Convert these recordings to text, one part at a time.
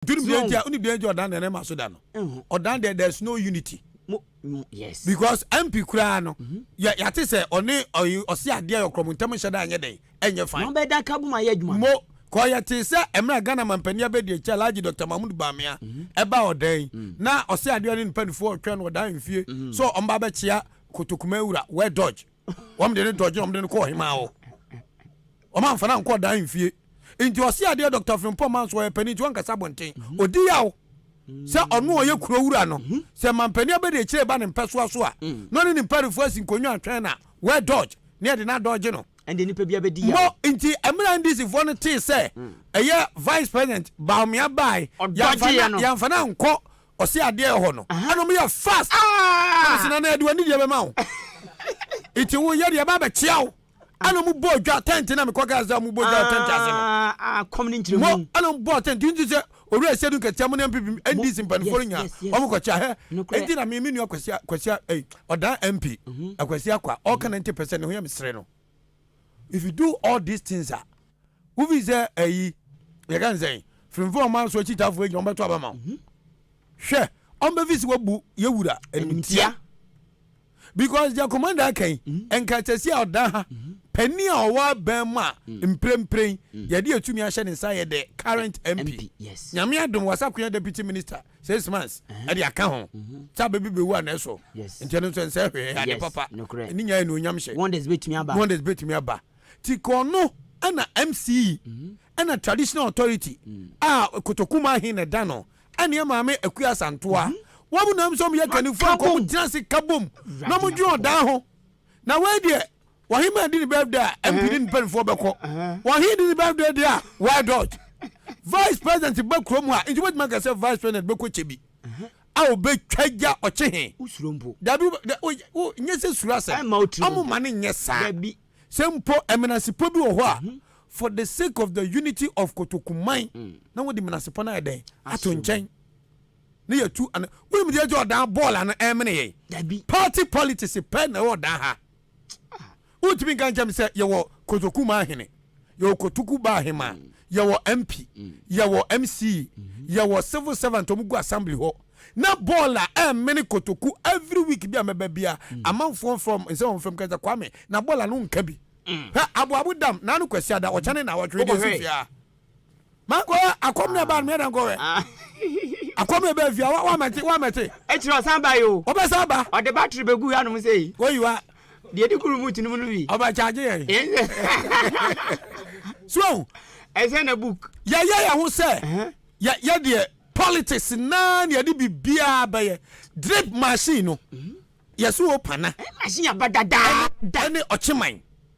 duru bia ntia woni bia ntia ɔdan deɛ ne ma so da no ɔdan deɛ there's no unity yes because mp koraa no mhm. yɛ yɛate sɛ ɔne ɔse adeɛ yɛ ɔkorɔmo ntam nhyɛ da anyɛ dɛn ɛnyɛ fine na ɔbɛda ka bom ayɛ adwuma mo kɔ yɛ te sɛ mmerɛ ghana mampanin abɛdi akyɛ alagye dr mahmud bamea mhm. ɛba ɔdan mm. na ɔse adeɛ ne mpanimfoɔ ɔtwɛn no ɔdan mfie mhm. so ɔmba bɛkyea kotokuma wura wɛ dodge wɔn de ne dɔgye wɔn de no kɔ ɔhemaa hɔ wɔn amfa no ankɔ ɔdan mfie nti ɔsi adeɛ dɔkta frimpɔ man so ɔyɛ panyin nti wankasa abɔnten mhm. odi yaw mhm. sɛ ɔno ɔyɛ kuro wura no mhm. sɛ mampanin abɛde akyire ba ne mpɛsoa so a na ɔne ne mparifo asi nkonnwa atwɛn na wɛ dɔgye ne ɛde na dɔgye no ɛnde nipa bi abɛdi yaw mo nti ɛmira ndc foɔ no tee sɛ mm. ɛyɛ vice president baomia baae yɛnfa no ankɔ Ɔse adeɛ wɔ hɔ no. Ɛna ɔmo yɛ fast. Ɛna ɔse nana yɛde w'ani deɛ bɛma wo. Nti wo yɛ deɛ yɛba abɛkyea wo. Ɛna ɔmo bɔɔ dwa tent na mekɔ kaa sɛ ɔmo bɔ dwa wɔ tent ase no. Mo ɛna ɔmo bɔɔ tent nti sɛ owura Asiedu nkatia mo ne NPP NDC mpaninfoɔ no nyinaa ɔmo kɔ kyea hɛ. Nti na me me nua Kwasi Kwasi ei ɔdaa MP Akwasi Akwa ɔɔka 90 pɛ sɛ ne ho yɛ me sere no. If you do all these things a, wo fi sɛ ayi, yɛka ne sɛn, firimfo a ɔma so akyitafo agyina ɔmbɛto aba ma wo. Mhm. Hwɛ, ɔmbɛfi sɛ wabu yɛ wura animtia. Because deɛ commander aka yi, mhm. nka sɛsi a ɔda ha, mhm. panin a ɔwɔ abɛn mu a, mm. mprempren, mm. yɛde atumi ahyɛ ne nsa yɛ dɛ current MP. Nyame adom wasakoya deputy minister. six months ɛde uh-huh. aka ho mm-hmm. sɛ abɛbi bɛwu ana ɛso nti ɛno nso ɛnsɛ hwee ade papa ɛne nyaa ɛne onyam hyɛ wonders bɛtumi aba ti kɔno ɛna mce mm-hmm. ɛna traditional authority mm. a kotokuma he na ɛda no ɛne maame akua asantoa mm-hmm. wɔn mu nam sɛ wɔn yɛ kanifo akɔ wɔn gyina se kabom na wɔn dwe ɔdan ho na wɔn deɛ Wɔhe ma di ne birthday a MP ne ne mpanimfoɔ bɛkɔ? Wɔhe di ne birthday deɛ a? Why dot? Vice president ba kurom a, nti wobɛtumi aka sɛ vice president bɛkɔ kyɛ bi a ɔbɛtwa gya ɔkye he? Wosuro mpo. Dabi, nyɛ sɛ suro asɛm. Ɔmo ma no nyɛ saa. Dabi. Sɛ mpo menasepɔ bi wɔ hɔ a, mhm. for the sake of the unity of Kotokuman, mm. na wode menasepɔ no ayɛ dɛn? Ato nkyɛn. Ne yɛtu, wonim deɛ gye ɔdan bɔɔl ano ɛmene yɛn? Dabi. Party politics pɛ na ɛwɔ ɔdan ha. Ah, wontumi nka nkyɛm sɛ yɛwɔ kotoku ma ahene yɛwɔ kotoku ba ahema mm. yɛwɔ mp mm. yɛwɔ mc mm-hmm. yɛwɔ civil servant ɔmo gu assembly hɔ na bɔɔl a ɛmene eh, kotoku every week bi a mɛba bia mm. amanfoɔ fam nsɛ wɔn fam kɛntɛ kwame na bɔɔl ano nka bi hɛ aboabo dam n'ano kwasi ada ɔkyɛne na awɔtwe de si fia. mankɔyɛ akɔm na ɛbaa no meyɛdɛ nkɔyɛ akɔm na ɛbaa fia wamɛte wamɛte ɛkyerɛ ɔsan ba yi o ɔbɛsan ba ɔde battery bɛgu hanom sɛ yi kɔyiwa deɛ di kuru mu tinumu no bi ɔbɛkyagye yɛ so ɛsɛ na book yɛyɛ yɛ ho sɛ yɛ deɛ politics naa na yɛde biribiaa bɛyɛ drip machine no yɛso wɔ pana machine aba dadaa ɛne ɔkyeman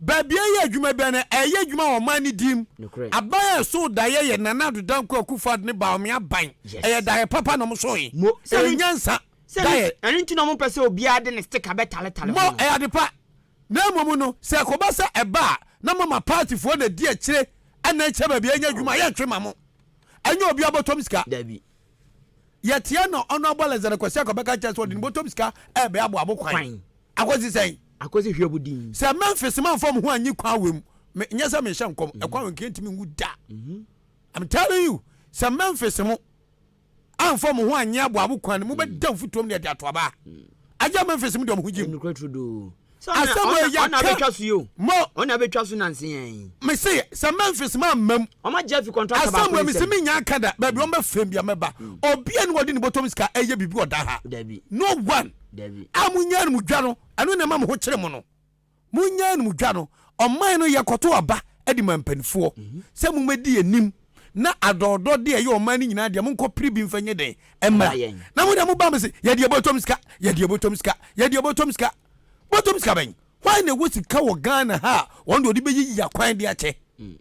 Baabi a ɛyɛ adwuma biara no, ɛyɛ adwuma wɔ ɔman no din mu. Nokorɛ. Aban a ɛsoo daeɛ yɛ Nana Addo Dankwa Akuffo Addo ne Bawumia aban. Yes. Ɛyɛ daeɛ papa na wɔsoo he. Mo, Sɛ ɛno, nyansa. Sɛ ɛno, Daeɛ. ɛno nti na wɔmpɛ sɛ obiara de ne sticker bɛtaletale Mo, ho no. ɛyɛ ade pa. Na mmom no, sɛ ɛkɔba sɛ ɛba a, na moama partyfoɔ na ɛdi akyire na ɛkyerɛ baabi a ɛnyɛ adwuma a, yɛntwe mma mo. Ɛnyɛ obiara bɔtɔm sika. Dabi. Yɛteɛ na Honourable Alexander Kwasi Akoa bɛka akyerɛ sɛ ɔde ne bɔtɔm sika ɛrebɛaboabo kwan. Kwan. Akosi sɛn? Akosi hwɛbu din. Sɛ Memphis manfa mo ho anyi Kwanwe mu, me, nyɛ sɛ mehyɛ nkɔm, mm-hmm. Kwanwe nka ntumi nwu da. Mm-hmm. I'm telling you, sɛ Memphis mo anfa mo ho anyi aboabo kwan no, mobɛda mm. mfutuom deɛ de ato abaa. Mm. Agya Memphis mo deɛ mo ho gyim. Asɛm wɔ yɛ aka. Mo. Ɔna abɛtwa so nansi yɛn. Mese sɛ Memphis ma mmam. Ɔma Jeffy contract baako nsɛm. Asɛm wɔ mese mi nya aka da baabi ɔmɛ fɛm bi amɛba. Obi a ni wɔde ne bɔtɔm sika ɛyɛ bibi ɔda ha. No one. a monnya anumdwa no, ɛno na ɛma mo ho kyere mo no. Monnya anumdwa no. Ɔman no yɛkɔto aba de ma mpanimfoɔ mhm. sɛ mommɛdi anim na adɔɔdɔ de ɛyɛ ɔman no nyinaa deɛ monkɔ pere bi mfa nyɛ dɛn mmra na mo deɛ mo ba mo se yɛdeɛ bɔtɔm sika yɛdeɛ bɔtɔm sika yɛdeɛ bɔtɔm sika bɔtɔm sika bɛn wɔn na ɛwɔ sika wɔ ghana ha a wɔn deɛ ɔde bɛyi yi akwan de akyɛ mm.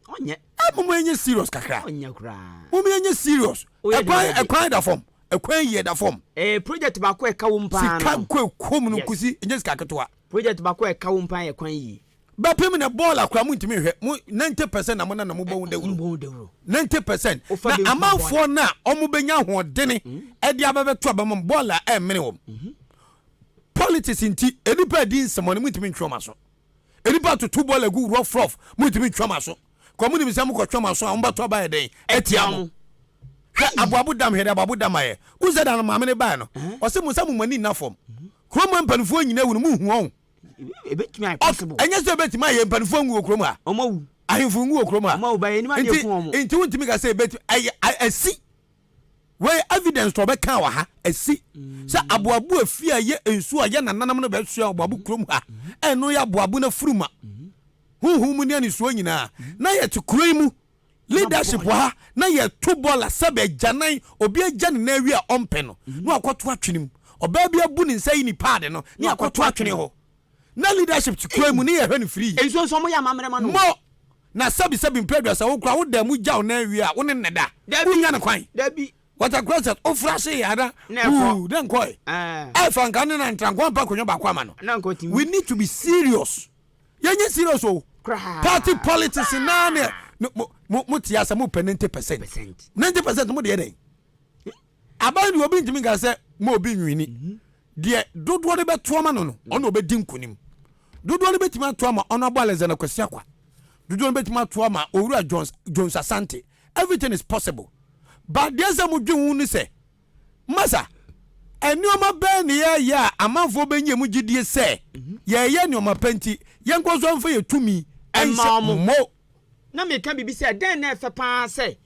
Ɔnyɛ. Ɛ mom yɛnyɛ serious kakra. Ɔnyɛ koraa. Mom yɛnyɛ serious. Ɛkwan ɛkwan da fam. Ɛkwan yie da fam. Ɛɛ project baako ɛka wom paa no. Sika nko ɛkɔm no nkosi ɛnyɛ sika ketewa. Project baako ɛka wom paa yɛ kwan yie. Bɛpem na bɔɔl akora mo ntumi nhwɛ mo ninety percent na mo na na mo bɔ ho dawuro. Mbɔ ho dawuro. Ninety percent na amanfoɔ na ɔmo bɛ nya ahoɔdene ɛde abɛ bɛ to abɛ mo bɔɔl a ɛmene wɔm. Politics nti ɛnipa ɛdi nsɛmɔne mo ntumi ntwe ɔmo aso. Nnipa toto bɔɔla gu rough rough, montumi ntwa mo aso. Kɔ mo nim sɛ mo kɔ twa mo aso a, mo bɛto aba yɛ dɛn atia mo. Hwɛ aboabo dam hwɛ de aboabo dam ayɛ. Wohu sɛ da no maame no baeɛ no, ɔse mo sɛ mo mo ani nna fam. Kurom ha mpanimfoɔ nyina awu no mo nhu ɔn. Ebetumi ayɛ possible. Ɛnyɛ sɛ ebetumi ayɛ mpanimfoɔ nwu wɔ kurom ha. Ɔmo awu. Ahemfo nwu wɔ kurom ha. Ɔmo awu ba yɛ nim adeɛ ku ɔmo. Nti nti wontumi ka sɛ ebetumi ɛyɛ asi. Wei evidence to ɔbɛkaa wɔ ha asi sɛ aboabo afie a ɛyɛ nsuo a yɛ nananom no bɛsoa aboabo kurom ha ɛno yɛ aboabo no afuruma honhom mu ne anesuo nyinaa na yɛte kuro yi mu leadership wɔ ha na yɛto bɔla sɛ bɛgyanan obi agya ne nan awie a ɔmpɛ no na wakɔto atwene mu ɔbaa bi abu ne nsa yi ne paade no ne akɔto atwene hɔ na leadership te kwan mu ne yɛhwɛ no firi. Nsuo nso wɔyɛ amammerɛ ma no. Mo! Na sɛbi sɛbi mprɛ aduasa wo koraa wo da mu gyaw nan wie a wo ne nnɛ da. Dabi! Wonnya no kwan. Dabi! Water closet wo fra ase yɛ na wuu na nkɔ ɛ. Ɛɛ! Ɛfa nka ne na ntra nko ampa akonnwa baako ama no. Na nka ɔtumi. We need to be serious. Yɛnyɛ serious o. Koraa. Party politics naa ne mo mo mo te ase mo pɛ ninety percent. Percent. Ninety percent mo de yɛ dɛn? Aban deɛ obi ntumi nka sɛ ma obi nwini. Deɛ dodoɔ no bɛto ama no no, ɔno ɔbɛdi nkunim. Dodoɔ no bɛtumi ato ama Honourable Alexander Kwasi Akwa. Dodoɔ no bɛtumi ato ama Owura Jones, Jones Asante. Everything is possible. But deɛ sɛ mo dwen ho ne sɛ, masa, nneɛma bɛn na yɛyɛ a amanfoɔ bɛnya mu gyidie sɛ yɛyɛ nneɛma pa nti yɛnkɔ so mfa yɛ tumi nhyɛ mo. Na meka biribi sɛ, dɛn na ɛfɛ paa sɛ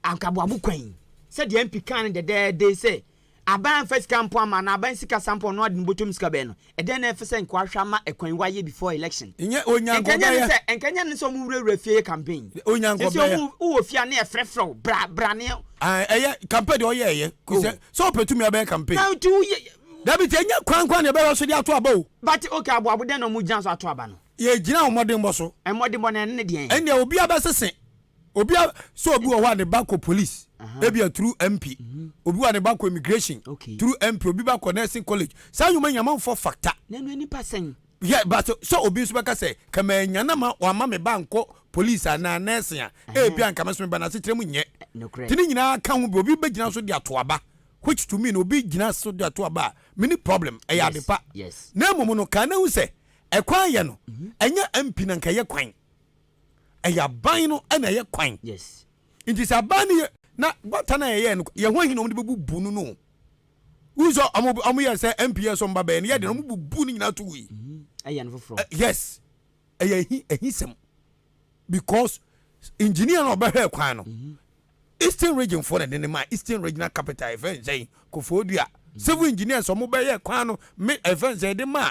Anka boabo kwan. Sɛdeɛ MP kaa no dɛdɛɛde sɛ aban amfa sika ampɔ ama anaa aban sika sa mpɔ ɔno ade no bɔtɔ mu sika bɛyɛ no, ɛdɛn na ɛfɛ sɛ nka wahwɛ ama ɛkwan wayɛ before election? Nyɛ Onyanko Nka ɛnyɛ ne bɛyɛ. sɛ nka ɛnyɛ ne sɛ ɔmo wurawura fie yɛ campaign. Nyɛ Onyanko Seesei bɛyɛ. ɔmo wo wɔ fie a ne yɛfrɛfrɛ wo bra bra ne. Ae ɛyɛ campaign deɛ ɔyɛ ɛyɛ Oh. kosɛ sɛ ɔpɛ tumi a ɔbɛyɛ campaign. Na nti wo yɛ. Dabi tie nyɛ kwan kwan na yɛbɛhwɛ so de ato aba o. But okay aboabo dɛn na ɔmo gyina so ato aba no? Yɛgyina wo mmɔdenbɔ so. Mmɔdenbɔ no ɛno ne deɛn? Ɛnneɛ obiara bɛsese Obi a sɛ obi wɔ hɔ a ne ba kɔ police ebia through MP mhm. obi wɔ a ne ba kɔ immigration through MP obi ba kɔ nursing college saa nnwuma nyɛ amanfoɔ factor. N'anu ani pa sɛn. Yɛ but sɛ obi nso bɛka sɛ kama anya na ma wama me ba nkɔ police anaa nursing a ebia nka mɛsome ba n'asekyerɛ mu nyɛ. Eh, Ti ne nyinaa ka ho bi obi bɛgyina so de ato aba which to me no obi gyina so de ato aba a mini problem ɛyɛ ade pa na mmom no kan na ehu sɛ ɛkwan yɛ no mhm. ɛnyɛ MP na nka ɛyɛ kwan. ɛyɛ aban no ɛna ɛyɛ kwan nti sɛ aban no yɛ na bɔta no a yɛyɛ no yɛn ho ahi na wɔn de bɛbubu no no wúni sɛ ɔmo ɔmo yɛ sɛ nps so mba bɛyɛ no yɛ de na ɔmo bubu ne nyinaa to wui. Mhm. ɛyɛ no foforɔ. yes ɛyɛ ehi ehi sɛm because engineer na ɔbɛhwɛ kwan no mhm. eastern region fo na ɛde ne ma eastern regional capital ɛfɛ nsɛn kofoɔ dua mhm. civil engineers ɔmo bɛyɛ kwan no me ɛfɛ nsɛn ɛde ma.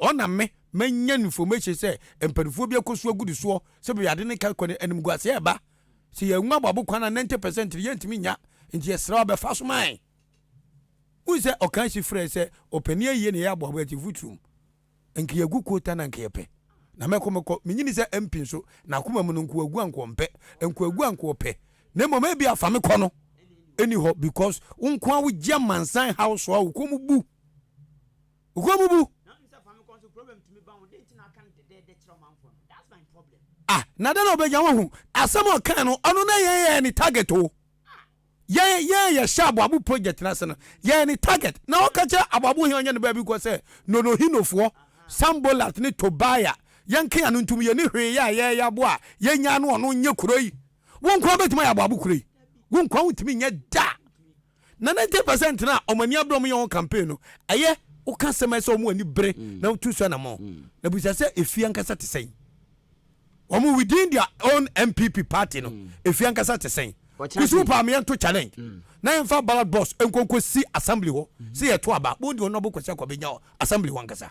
Ɔna me manya information sɛ mpaninfoɔ bi akɔsu agu ne soɔ sɛ baabi ade no ka kɔ no animguaseɛ ɛba sɛ yɛn nwa bɔbo kwan a 90 percent no yɛntumi nya nti yɛsrɛ wo bɛfa so mae wohu sɛ ɔka si frɛ sɛ ɔpani ayie na yɛ aboabo ɛte futurum nka yɛgu kota na nka yɛpɛ na mɛkɔ mɛkɔ menyini sɛ mpi nso na akoma mu no nko agu anko ɔmpɛ nko agu anko ɔpɛ na mmom ebi afa me kɔ no ɛni hɔ because wo nko a wogye amansan haw so a wokɔ mu bu Woabubu. Ah, na dɛn na ɔbɛnya wahu? Asɛm a ɔkae no, ɔno na yɛn yɛn ne target o. Yɛn yɛn yɛhyɛ aboabo project no ase no, yɛn ne target. Na ɔka kyerɛ aboabo hene ɔnyɛ ne baabi kɔ sɛ, Nonohinofoɔ, Sanbolat ne Tobia, yɛnka ano ntom, yɛnni hwee yɛ a yɛyɛ abo a yɛnyaa no ɔno nyɛ kuro yi. Wo nko ara bɛtumi ayɛ aboabo kuro yi. Wo nko ara wontumi nyɛ da. Na ninety percent na wɔn ani abere wɔn yɛ wɔn campaign no ɛyɛ woka asɛm a ɛsɛ wɔn ani bere mm. na wotu so anamɔ mm. na busa sɛ efi ankasa te sɛn wɔn within their own npp party no mm. efi ankasa te sɛn kusu paami yɛn to challenge na yɛn fa ballot box nkonko si assembly hɔ sɛ yɛ to aba wɔn di wɔn abo kɔsi akɔbɛ nya assembly hɔ ankasa.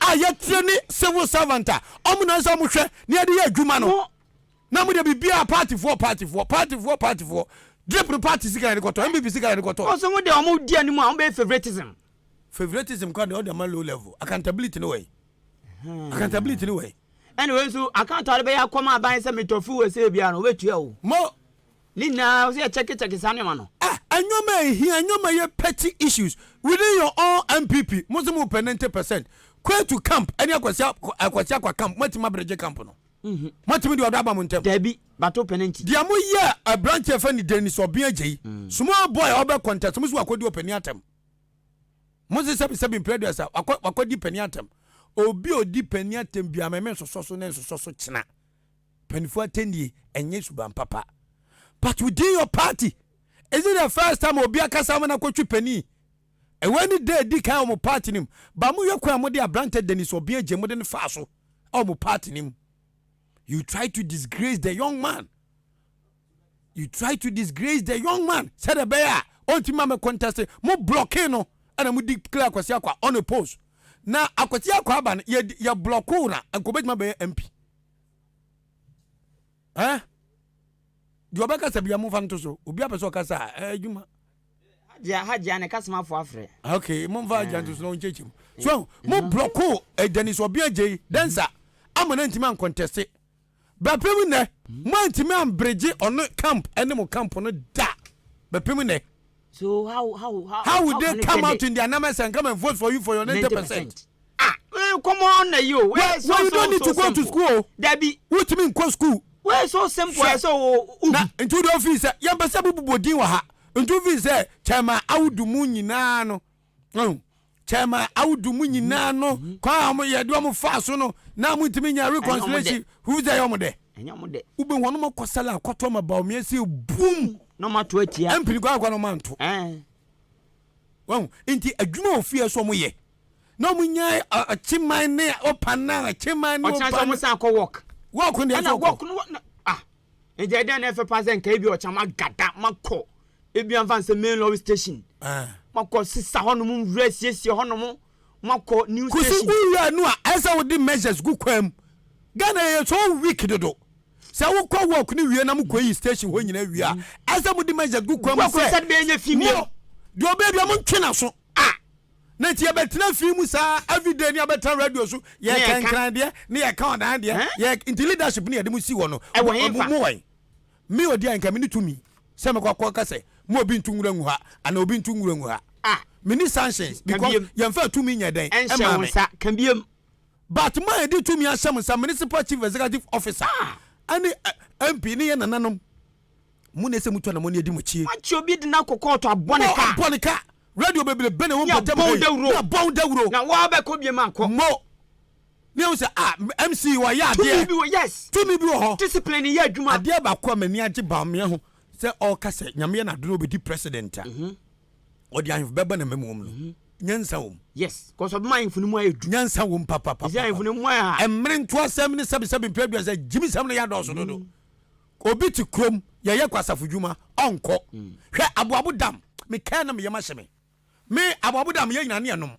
a yɛtire ne civil servant a ɔmo na ɛsɛ ɔmo hwɛ na yɛde yɛ adwuma no na mo de biribiara paatifoɔ paatifoɔ paatifoɔ paatifoɔ drip no paati sika yɛde kɔtɔ npp sika yɛde kɔtɔ. ɔsɛ mo de ɔmo di anim a ɔmo bɛyɛ favoritism. favoritism kɔ de ɔde ma low level accountability ne wɔyi hmm. accountability ne wɔyi. ɛna wei nso account a ɔde bɛyɛ akɔma aban sɛ metɔ fuel sɛ ebi ano ɔbɛtua o. mo Ne nyinaa sɛ yɛ check check saa nneɛma no. Ah nneɛma a ɛhia nneɛma yɛ petty issues within your own NPP mo nso mo pɛ 90 percent Kwetu camp ɛne Akwasia Akwasia kwa camp mo atumi abregye camp no mo atumi de ɔdɔ aba mo ntɛm. Dabi but wo pɛ no nti. Deɛ mo yɛɛ abranteɛ fɛ ne Dennis Obeng Agyei small boy a ɔbɛ contest mo nso wakɔ di ɔpanin atɛm mo nso sɛbi sɛbi mpere aduasa wakɔ wakɔ di panin atɛm obi a odi panin atɛm biara mɛmɛ nsosɔ so na nsosɔ so kyena Mpanyinfoɔ atɛnnie ɛnyɛ suban papa but within your party is it the first time obi akasa ama no akɔtwe panin? Ɛwei ne da ɛdi kan wɔ mo party no mu but mohwɛ kwan a mode abrantɛ Dennis Obeng Agyem mode no faa so wɔ mo party no mu you try to disgrace the young man you try to disgrace the young man sɛdeɛ ɛbɛyɛ a ɔntumi ma me contest mo blocking no ɛna mo declare Akwasi Akwa on a post na Akwasi Akwa aba no yɛ yɛ blocking na nkɔbɛgyima bɛyɛ MP. eh deɛ ɔbɛkasa bia momfa nto so obi apɛ sɛ ɔkasa a eh, adwuma hagya ne kasamafo afrɛ ok momfa agya nto so na ɔnkyɛkyɛ mu so mo blɔko ɛdani so ɔbea gyei dɛnsa ama no antimi ankɔntɛse bɛpem nnɛ moantimi amberegye ɔno camp ɛne mo camp no da bɛpem nnɛ So how how how how would they come out in their numbers and come and vote for you for your ninety percent. ah eh, come on na yi o. wẹ́ẹ́ so so so simple. wẹ́ẹ́ you don't need to go to school o. dabi. wotumi nkɔ school. wẹ́ẹ́ so simple ẹ sọ o. na ntu de ofi sẹ yẹn pẹ sẹ bubu bọ din wọ ha ntu fi sẹ kyẹma awudu mu nyinaa no. ɔn kyɛma awudu mu nyinaa no mhm. kwan a wɔn yɛde wɔn fa so no na wɔn ntumi nya reconciliation fufu sɛ ɛyɛ wɔn dɛ wobɛ wɔn wɔn kɔ sɛlɛ akɔtɔ ma bawo mmiɛ sɛ bum na wɔn ato atia ɛmpiri kɔ akɔ na wɔn anto wɔn nti adwuma wɔ fie so wɔn yɛ na wɔn nya akyeman ne ɔpan na akyeman ne ɔpan ɔkyerɛ sɛ wɔn san akɔ wɔk wɔk ne ɛna wɔk no ah Nti ɛdeɛn na ɛfɛ paa sɛ nka ebi ɔkyena magada makɔ ebi anfa nsɛ main lorry station ah. makɔ sisa hɔnom nwura siesie hɔnom makɔ new station. kusi wura no a ɛsɛ wode measures gu kwan mu ghana yɛ so weak dodo sɛ wokɔ work no wie na mokɔyi station hɔ nyina wie a ɛsɛ mode measures gu kwan mu sɛ deɛ ɔbɛdua mo ntwe na so na nti yɛbɛtena fie mu saa everyday ne abɛtena radio so yɛka nkran deɛ ne yɛka ɔdan deɛ yɛ nti leadership ne yɛde mu si hɔ no mo wɔn me odi a nka me ne tumi sɛ mekɔ akɔ ka sɛ mo obi ntu nwura ngu ha ana obi ntu nwura ngu ha ah. me ne sanctions because yɛmfa tumi nyɛ dɛn ɛma me but ma yɛde tumi ahyɛ mo nsa municipal chief executive officer ɛne ah. eh, mp ne yɛ nananom Mo na ɛsɛ mutu anamɔne adi mo akyi. Wɔakye obi de no akɔ kɔɔto abɔ no ka. Mo abɔ no ka. Radio bebrebe na ɛwɔ mpɔtam ha yi. Ne abɔ wo dawuro. Ne abɔ wo dawuro. Na wo ara bɛkɔ biem akɔ. Mo. Ne ɛho sɛ ah MC wayɛ adeɛ. Tumi bi wɔ yes. Tumi bi wɔ hɔ. Discipline yɛ adwuma. Adeɛ baako a m'ani agye Bawumia ho sɛ ɔreka sɛ Nyame yɛ n'ado na ɔbɛdi president a. Mhm. Ɔde ahemfo bɛba n'amam wɔ mu no. Mhm. Nyansa wɔ mu. Yes. Kɔsɔ bɛma ahemfo no mu ayɛ du. Nyansa wɔ mu papapapa. Ɛsɛ ahemfo no mu ayɛ ha. Mmere ntoasɛm ne sɛbesɛbe mpɛ aduasa gyimisɛm no yɛ adɔɔso dodo. Mhm. Obi te kurom yɛyɛ kwasafo dwuma ɔnkɔ. Hwɛ aboabo dam me kaa na me yam ahye me. Me aboabo dam yɛn nyinaa ne yɛnom.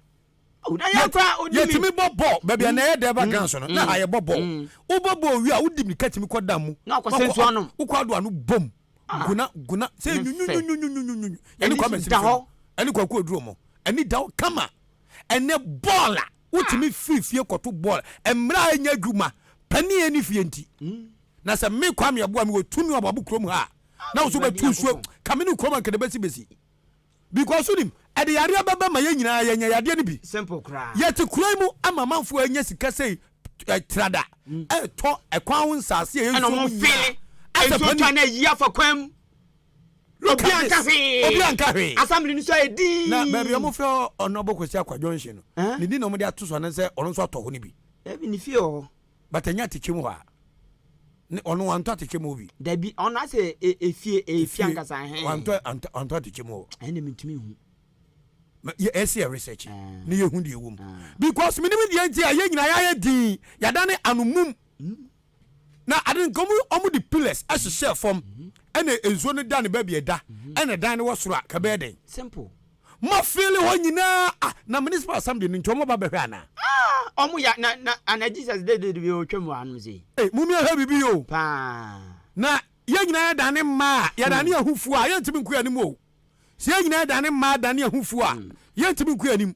Yɛtumi bɔ bɔɔl baabi a na ɛyɛ dɛ ba mm. ganso no na mm. ha yɛbɔ bɔɔl. Mm. Wobɔ bɔɔl wie a wodi mirika tumi kɔ dam mu. Na ɔkɔ sɛnsu anom. Wokɔ ado ano bom. Ah. Guna guna sɛ nyunyunyunyunyunyunyunyuny. Ɛne kɔ mɛsiri fam. Ɛne kɔ akuo duro mu. Ɛne da hɔ kama. Ɛne bɔɔl a wotumi ah. firi fie kɔto bɔɔl. Mmerɛ a ɛnyɛ adwuma panin ɛne fie nti. Na sɛ me Kwame Aboa me wɔ tumi wɔ abɔbo kurom ha a, na wo so bɛtu nsuo ka me ne kurom anka de bɛsi bɛsi. Because wonim, ɛde yareɛ bɛba ma yɛn nyinaa yɛanya yadeɛ no bi. Simple koraa. Yɛte kuro yi mu ama amanfoɔ anya sika sei trada ɛretɔ ɛkwan ho nsaase a ɛyɛ nsuo mu nyinaa. Ɛna wɔn fili nsuo twa na ayi afa kwan mu. Look at this. Obi anka hwee. Assembly no so ayɛ dii. Na baabi a wɔfrɛ hɔ Ɔnɔbo Kwasi Akwa Junction no, ne din na wɔde ato so anaasɛ ɔno nso atɔ hɔ no bi. Dabi ne fie wɔ hɔ. But ɛnyɛ atɛkyɛ mu hɔ a ne ɔno wantɔ atɛkyɛ mu hɔ bi. Dabi ɔno asɛ e, efie e, efie ankasa hɛn. Wantɔ antɔ antɔ atɛkyɛ mu hɔ. Ɛnna mi ntumi hu. Yɛ ɛsi yɛ research ah. ne yɛ hu deɛ ɛwɔ mu ah. because mi ni mi deɛ nti a yɛ nyinaa yɛ ayɛ din yada ne anumum hmm. na adi nka ɔmo ɔmo de pillars ɛhyehyɛ fam ɛna nsuo no da ne baabi ɛda ɛna dan no wɔ soro a kabɛɛ dɛn. simple. Mo fili hɔ nyinaa ah na municipal assembly no nti ɔmo ba bɛhwɛ anaa. Ah ɔmo ya na na ana Jesus de de de otwa mu anom sei. Ei mum yɛ hwɛ bibi o. Paa. Na yɛn nyinaa yɛ dane mmaa a yɛ dane yɛ ho fuo a yɛntumi nko yɛn anim o. Sɛ yɛn nyinaa yɛ dane mmaa dane yɛ ho fuo a yɛntumi nko yɛn anim.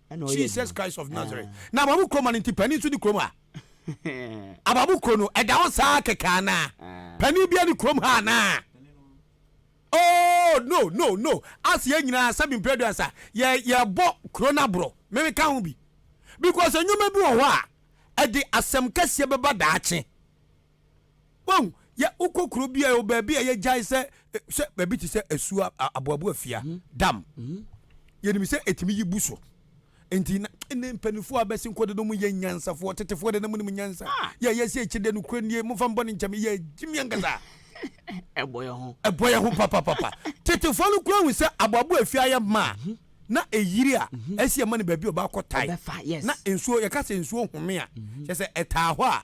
Jesus Christ of Nazareth. Ah. Na ababu kuro ma no nti panin nso ni kurom ha. ababu kuro no ɛda hɔ saa kɛkɛ anaa? Ah. Panin bia ni kurom ha anaa? Oh no no no ase yɛ nyinaa sɛbi mpɛrɛdu asa yɛ yɛbɔ kuro no aborɔ meme ka ho bi because nneɛma bi wɔ hɔ a ɛde asɛm kɛseɛ bɛba daakye. Wahu? Yɛ, wokɔ kuro bi a ɛwɔ baabi a yɛgyae sɛ, sɛ baabi te sɛ asuo aboabo afia, mm-hmm. dam. Mm-hmm. Yɛnim sɛ ɛtumi yi bu so. Nti na ne mpanimfoɔ a bɛsi nkɔ de no mu yɛ nyansafoɔ, tetefoɔ de no mu nim nyansa. Ah. Yɛ yɛ sɛ akyire de no kura nie, mofa mbɔ ne nkyɛm, yɛ gyimi ankasa. Ɛbɔ yɛ ho. Ɛbɔ yɛ ho papapapa. Tetefoɔ no kura hu sɛ aboabo afia ayɛ maa. Mm-hmm. na ɛyiri a ɛsi ɛma no baabi ɔbaakɔ tae na nsuo yɛka sɛ nsuo home a kyɛ sɛ ɛtaa hɔ a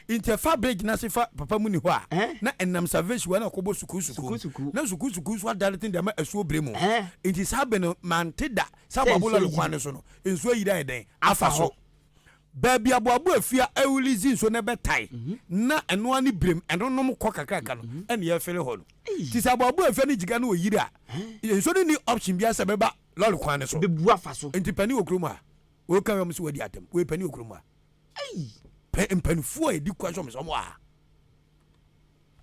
Nti ɛfa bere gyinaesi fa papa mu ni hɔ a, na ɛnam salvation wɔ na ɔkɔbɔ sukuu sukuu, na sukuu sukuu nso adane tene de ama asuo bere mu. Nti saa bere no mante da sɛ aboabo lɔre kwan no so no nsuo ayiri ayɛ dɛn afa so. Baabi aboabo afi a ɛrelease nsuo no ɛbɛtae na ɛno ara ne birem ɛno nom kɔ kakraka no ɛna yɛfele hɔ no. Nti sɛ aboabo afi ne gyiga no ɔyiri a, nsuo no nni option biara sɛ ɛbɛba lɔre kwan no so. Nti panin wɔ kurom a, woka wei a wɔn se wadi atam, wei panin wɔ kurom a. Ei! Pɛ mpanimfoɔ a ɛdi kwan sɛ wɔn sɛ wɔn a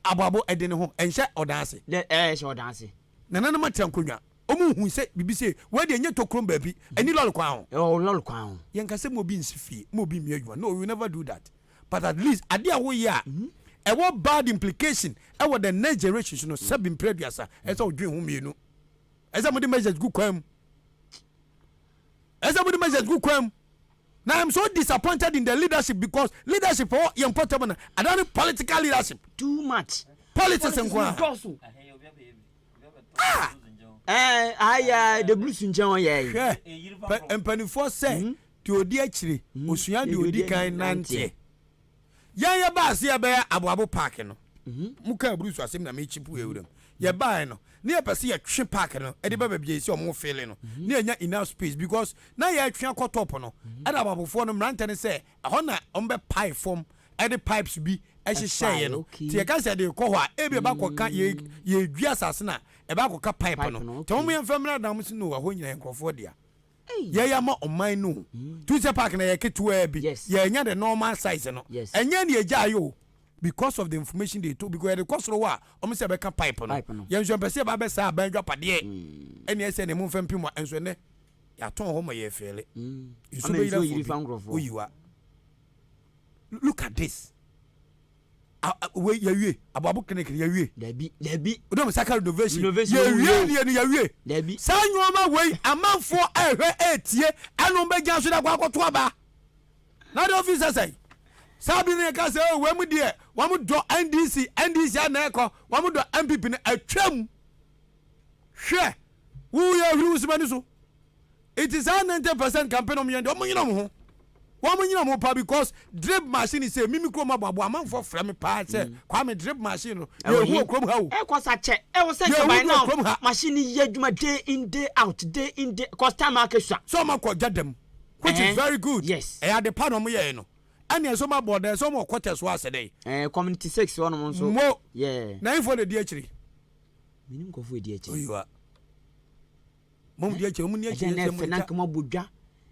aboabo ɛde ne ho ɛnhyɛ ɔdan ase. Dɛ ɛɛ ɛhyɛ ɔdan ase. Nananom atra nkonnwa. Wɔn nhu sɛ biribi se wei deɛ nyɛ tokrom baabi, ɛni lɔre kwan ho. Ɛwɔ lɔre kwan ho. Yɛnka sɛ ma obi nsi fie, ma obi mmie adwuma. No, we will never do that. But at least adeɛ a woyɛ a ɛwɔ bad implication ɛwɔ the next generation so no, sɛbi mpere aduasa, ɛsɛ sɛ wodwen ho mmienu. Ɛsɛ sɛ mode measures gu kwan mu. Ɛsɛ sɛ mode measures gu kwan mu. Now I'm so disappointed in the leadership because leadership for yɛn pɔtɛm na ada ne political leadership. Too much. Politics nko a. Dɔɔso. Ah! Ɛɛ aya de blues nkyɛn wɔn yɛ yi. Hwɛ mpanimfoɔ sɛ deɛ odi akyire osua deɛ odi kan nanteɛ. Yɛn yɛ baa se yɛ bɛ yɛ aboabo park no mo kaa bruce asem na me chip yɛ wuram yɛ baa yɛ no na yɛ pɛ se yɛ twe park no de ba baabi a yɛsi ɔmo fele no na yɛ nya enough space because na yɛ twe akɔ top no ɛna aboabofoɔ no mmerantɛ no sɛ ɛhɔ na ɔmo bɛ pae fɔm ɛde pipes bi ɛhyehyɛ yɛ no te yɛ ka sɛ de kɔ hɔ a ebi ɛba kɔ ka yɛ yɛ dwi asase na ɛba kɔ ka pipe no te ɔmo yɛ nfɛ mmra na ɔmo se no ɛhɔ nyina yɛ nkorɔfoɔ dea. yɛyɛ ama ɔman no o tu sɛ park na yɛ ketewaa bi yɛnya the normal size no ɛnyɛ ne yɛgya yɛ o because of the information they told because yɛde kɔ soro hɔ a wɔn sɛ bɛka pipe no yɛn nso mpɛ sɛ yɛba bɛ saa aban adwapadeɛ mm. ɛne ɛsɛ ne mu mfa mpim a nso ɛnɛ yɛatɔn hɔ ma yɛ fɛɛle mm. nso bɛyira fo bi oyiwa look at this. wei yɛwie aboabo clinic no yɛwie dabi dabi wodɛ mo saka renovation yɛwie deɛ no yɛwie dabi saa nneɛma wei amanfoɔ ɛhwɛ ɛtie ɛno bɛgya so dakɔ akɔto aba na de ofi sɛ sɛn saa bi no yɛka sɛ oh, wei mu deɛ wɔn dɔ ndc ndc ana ɛkɔ wɔn dɔ mpp no atwam Hwɛ! Wo yɛ ohwiri wo simani so. Nti saa ninety percent campaign ɔmo yɛ deɛ ɔmo nyina ɔmo ho. Wɔn nyina ɔmo paa because drip machine se mimi kurom aboabo amanfoɔ frɛ me paa sɛ mm. Kwame drip machine no yɛ ehu wɔ kurom ha o. Ɛkɔ sa kyɛ ɛwɔ sɛ nkaban na machine ni yɛ adwuma day in day out day in day cause time ake sua. So ɔmo akɔ gya dɛm which is very good. Yes. Ɛyɛ ade pa na ɔmo yɛ no. Ɛna ɛsɛ ɔmo abɔ dɛ ɛsɛ ɔmo ɔkɔtɛ so asɛ dɛ. Ɛɛ community six wɔn mo nso. Mo. Yeah. Na info na di akyiri. Menim nkurɔfoɔ ɛdi akyire. Oyiwa. Mom di akyire, mom ni akyire. Ɛdɛn na ɛfɛ na nka mo abɔ dwa.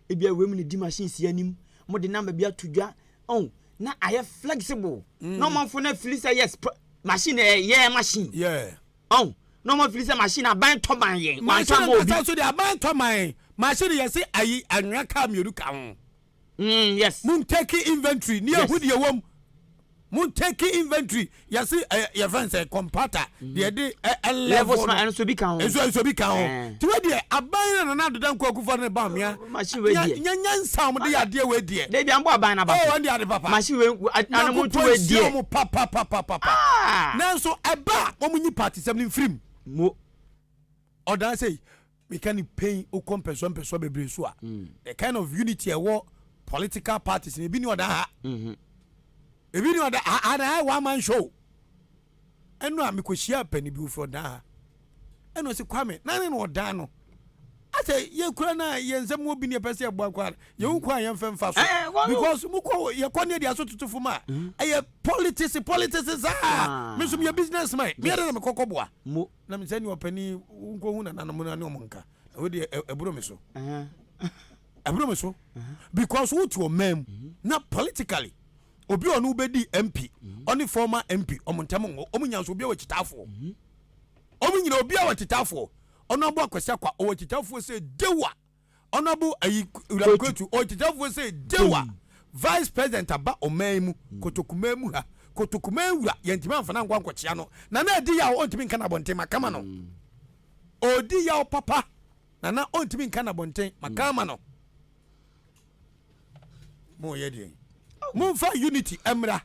Ebi a wei mu ne di machine si anim. Mo de number bi ato dwa. Oh, na ayɛ flexible. Mm. Na ɔmanfo na fili sɛ yes, machine ɛyɛ eh, yeah, machine. Yeah. Oh, na ɔmanfo fili sɛ machine aban tɔ ban yɛn. Machine nkasa so de aban tɔ man. Machine yɛ se ayi anwea ka mmienu ka ho. Mm yes. Mo ntake inventory ni ehu deɛ wɔm. Mo ntake inventory yɛsi ɛ eh, yɛfɛ nsɛ kɔmpata mm-hmm. deɛ de ɛ eh, ɛ levels ma ɛnso bi ka ho. Ɛnso ɛnso bi ka ho. Eh. Tiwa deɛ aban na nana adoda nkɔ akufo ne ba mmea. Oh, machine wei deɛ. Nya nya nsa wɔn de yɛ adeɛ wei deɛ. Debi an bɔ aban na ba so. Oh ɛn de ade papa. Machine wei ana mo tu wei deɛ. Na ko pɔn si wɔn papa papa papa. Ah. Nanso ɛba wɔn nyi paati sɛm ni nfirim. Mo. Ɔdan sɛ yi. Meka no pɛn wokɔ mpɛsoa mpɛsoa bebree so a, the kind of unity ɛwɔ political parties no, ebi ni ɔda ha, ebi ni ɔda ha, and I one man show. Ɛno a mekɔhyia apani bi ofiri ɔdan ha, ɛna ɔsi Kwame, na ne na ɔdan no. Asɛ yɛkura no a yɛn nsɛm wɔ bi ne yɛpɛ sɛ yɛboa kɔ a, yɛwu kɔ a yɛmfa mfa so. Because mokɔ yɛkɔ ne yɛde aso tutufo ma a, ɛyɛ politics politics saa. Me nso meyɛ businessman, meyɛ dɛ na mekɔkɔboa. Na me sɛ nea ɔpɛ ni wo nkɔ hu nananom no ne ɔmo nka ɛwɔ deɛ ɛboro me so ɛboro me so because wo te ɔman mu mhm. na politically obi ɔno wobɛdi mp mhm. ɔne former mp ɔmo ntɛm ngɔ ɔmo nya nso obi a wɔkyitaafoɔ mhm. ɔmo nyina obi a wɔkyitaafoɔ ɔno aboa kwasi akwa ɔwɔ kyitaafoɔ sɛ dewa Honourable ayi Wura Kwetu ɔkyekyɛfoɔ sɛ Dewa Vice President aba ɔman yi mu Kotokumaa mu ha Kotokumaa wura yɛntumi amfa no ankɔ ankɔkyea no na na adi yaw ɔntumi nka n'abɔnten ma kama no ɔdi yaw papa na na ɔntumi nka n'abɔnten ma kama no mo yɛ deɛ mo nfa unity ɛmra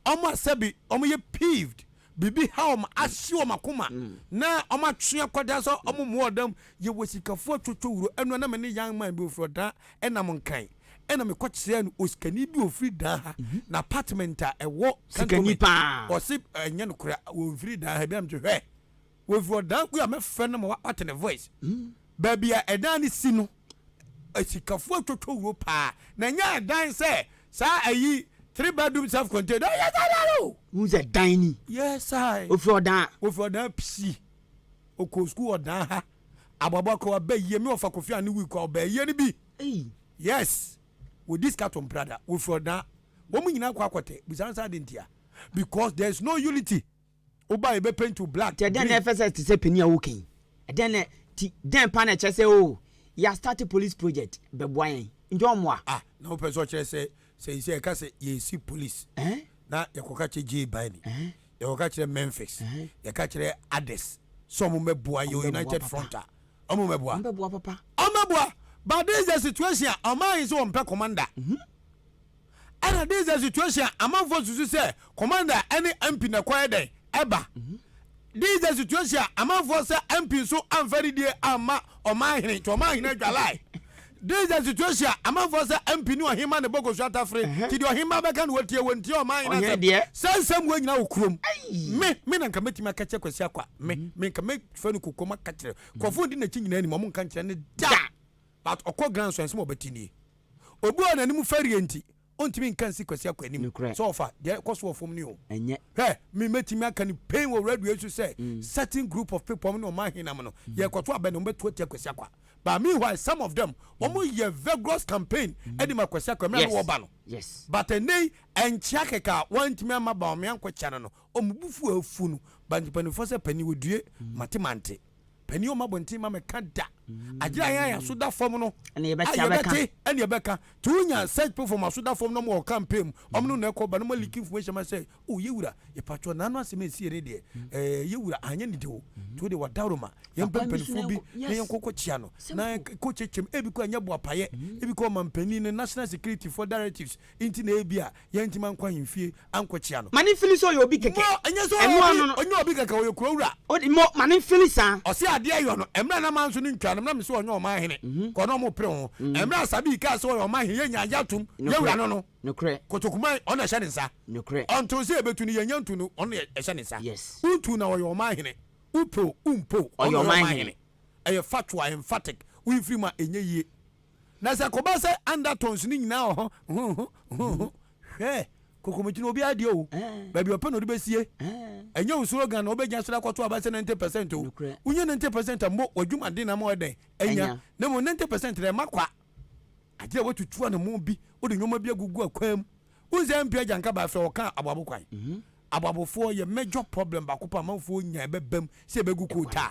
wɔn a sɛbi wɔyɛ peeved, biribi ha wɔn, ahye wɔn akoma, na wɔatwe akwadaa sɛ wɔmmɔ ɔdam. Yɛwɔ sikafoɔ atwotwo wuro. Ɛno na me ne young man bi ɔfiri Ɔdaa nam Nkan, ɛnna mekɔkyerɛɛ no osikani bi a ɔfiri Daa ha, n'apartment a ɛwɔ cantonment. Ɔse ɛnyɛ nokorɛ, wɔmfiri Daa ha. Bi a mete hwɛ, wɔfiri Ɔdaa, wei a mɛfrɛ no ma wate ne voice. Baabi a ɛdan no si no, Asikafo atwotwo wuro paa na ɛnyɛ ɛdan sɛ saa ayi three bedroom self contained ɔyɛ saa daa no. Wohu sɛ dan ni. Yes I. Ofiri ɔdan. Ofiri ɔdan psi. Okɔ school ɔdan ha. Aboabo akɔ aba yie mi ɔfa kofi ani wig kɔ ɔba yie ni bi. Hey. Yes. Wodi sika to mprada. Wofiri ɔdan. Wɔn nyinaa kɔ akɔtɛ. Busa nsa adi ntia. Because there is no unity. Wo ba yi bɛ paint wo black, green. Nti ɛdɛn na ɛfɛ sɛ ɛte sɛ panin a woka yi? Ɛdɛn na ti dɛn paa na ɛkyerɛ sɛ oo yɛ start police project bɛboa yɛn nti ɔmmoa? Ah na wopɛ sɛ ɔkyerɛ sɛ sɛisɛ yɛka sɛ yɛresi police Ɛhɛn. na yɛkɔka kyerɛ Jay Biden, Ɛhɛn. yɛkɔka kyerɛ Memphis, Ɛhɛn. yɛka kyerɛ others sɛ ɔmo mmɛboa yɛn Ɔmo bɛboa United papa. Front a ɔmo mmɛboa? Ɔmo bɛboa papa. Ɔmo bɛboa but this is the situation a ɔman yi sɛ wɔmpɛ commander. Ɛna this the situation a amanfoɔ susu sɛ commander ɛne MP na kɔyɛ dɛn ɛba. This the situation a amanfoɔ sɛ MP nso amfa ne die amma ɔman hene nti ɔman hene adwalae. This the situation a amanfoɔ sɛ MP ne ɔhema ne bɔkɔsu atafere nti deɛ ɔhema bɛka no wɔtie wɔn ntie ɔman hene Ɔhene asɛm. deɛ. Saa nsɛm wɔ nyina wɔ kurom. Me me na nka mɛtumi aka kyerɛ Kwasi Akwa me me nka mɛfɛ no kokoam aka kyerɛ. Nkurɔfoɔ di n'akyi nyinaa nim ɔmo nka nkyerɛ no da. But ɔkɔ grand nso ɛnsɛm a ɔbɛte nie. Obi a n'anim fɛreɛ nti ɔntumi nka nsi Kwasi Akwah anim Nokorɛ. sɛ ɔfa deɛ ɛkɔ so wɔ fam no o. Ɛnyɛ. Hwɛ, me mɛtumi aka no pain wɔ radio yi so sɛ certain group of people, wɔn ne wɔn ahenam no, yɛrekɔto abɛn no, wɔbɛto atia Kwasi Akwah. But meanwhile some of them, wɔyɛ vigorous campaign de ma Kwasi Akwah mmerɛ a na Yes, wɔreba no. yes. But ɛnnɛ yi, ɛnkyea kɛkɛ a wɔantumi amma Bawumia ankɔkyɛ no no, wɔn bo fu afu no. But mpanimfoɔ sɛ panin, wɔdue, mate mante. Panin ɔma bɔnten ma mɛka da. Agyere a yɛn aso da fam no. Ɛna yɛbɛte abɛka. Ɛna yɛbɛka. To wonya search platform aso da fam na ɔmo wɔ campaign mu. Ɔmo no na ɛkɔ ba na ɔmo leak information ma sɛ o oh, yɛwura yɛpatwɔ n'ano asɛm esi yɛ ne deɛ ɛɛ eh, yɛwura anyɛ ne de o. To wo de wadaworo ma yɛn pɛ mpanimfoɔ bi na yɛn kɔkɔ kyia no na kɔ kyekyem ebi kɔ ɛnyɛ boapayɛ ebi kɔ ɔmampanin ne national security for directives nti na ebi a Yɛantumi ankɔ ahemfie ankɔkyia no. Ma no mfili sɛ ɔyɛ obi kɛkɛ. Mo, ɛnyɛ sɛ ɔyɛ obi, ɔnyɛ obi kɛkɛ, ɔyɛ kurawura. O de, mo, ma no mfili saa. Ɔse adeɛ yɔ no, ɛmerɛ a na manso no ntwaa no mu, na mese ɔnyɛ ɔman hene, kɔɔ na ɔmo pere ho. Ɛmerɛ a Sabi kaa sɛ ɔyɛ ɔman hene, yɛ nyaa ya tom, yɛ wura no no, kotokuman, ɔno na ɛhyɛ ne nsa. Ɔntoo sɛ yɛbɛtu no, yɛ nya ntu no, ɔno na ɛhyɛ ne nsa. Wo tu na ɔyɛ ɔman hene, wo pɛ o, wo mpɛ o, ɔno na ɔyɛ ɔman hene. Ɛyɛ factual, emphatic, wo mfiri mu a, ɛnyɛ yie. Na sɛ ɛkɔba sɛ undertones no nyinaa wɔ ho, ho, ho, ho, ho, hwɛ, kokomoti no obiara deɛ o, baabi ɔpɛ na ɔde bɛsie. Ɛnyɛ wo slogan na wobɛgyina so de akɔto aba sɛ 90 percent o. Wonya 90 percent a, mmo w'adwumaden na ama woayɛ dɛn? Anya. Na mmom 90 percent no, ɛma kwa. Agye a woatutu anammɔn bi, wode nneɛma bi agugu akwan mu. Wohu sɛ MP Agya Nkabae frɛ wɔ kaa aboabo kwan. Aboabofoɔ yɛ major problem baako paa amanfoɔ nya ɛbɛbam sɛ ɛbɛgu kootaa.